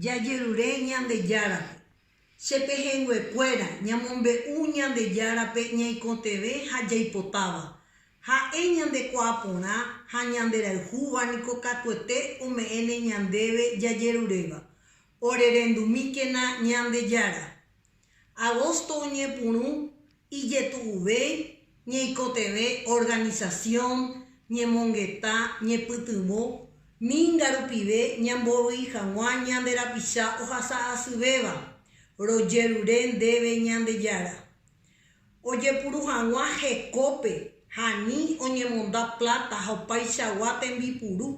Jajerure Ñandejárape. Che pehẽnguekuéra, ñamombe'u Ñandejárape ñaikotevẽ ha jaipotáva. Ha'e ñandekuaaporã ha ñanderayhúva niko katuete ome'ẽne ñandéve jajeruréva. Orerendumíkena Ñandejára. Agosto oñepyrũ ijetu'uvéi, ñeikotevẽ organisasión, ñemongeta, ñepytyvõ, minga rupive ñamborui hag̃ua ñande rapicha ohasa asyvéva, rojerure ndéve Ñandejára. Ojepuru hag̃ua hekópe ha ani oñemonda pláta ha opaichagua tembipuru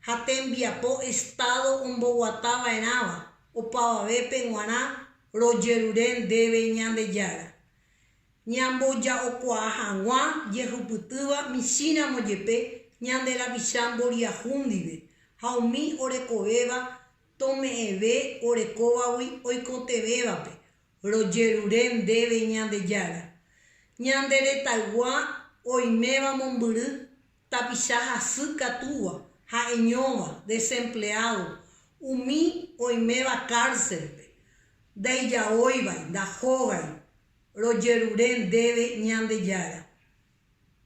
ha tembiapo Estado omboguatava'erãva opavavépe g̃uarã Rojerure ndéve Ñandejára, ñamboja'okuaa hag̃ua jehupytýva michĩramo jepe ñande rapicha mboriahu ndive, ha umi orekovéva tome'ẽve orekóvagui oikotevẽvape. Rojerure ndéve Ñandejára, ñande retaygua oiméva mombyry tapicha hasy katúva, ha'eñóva, desempleado, umi oiméva cárcelpe, ndaijaóivai, ndahógai, rojerure ndéve Ñandejára.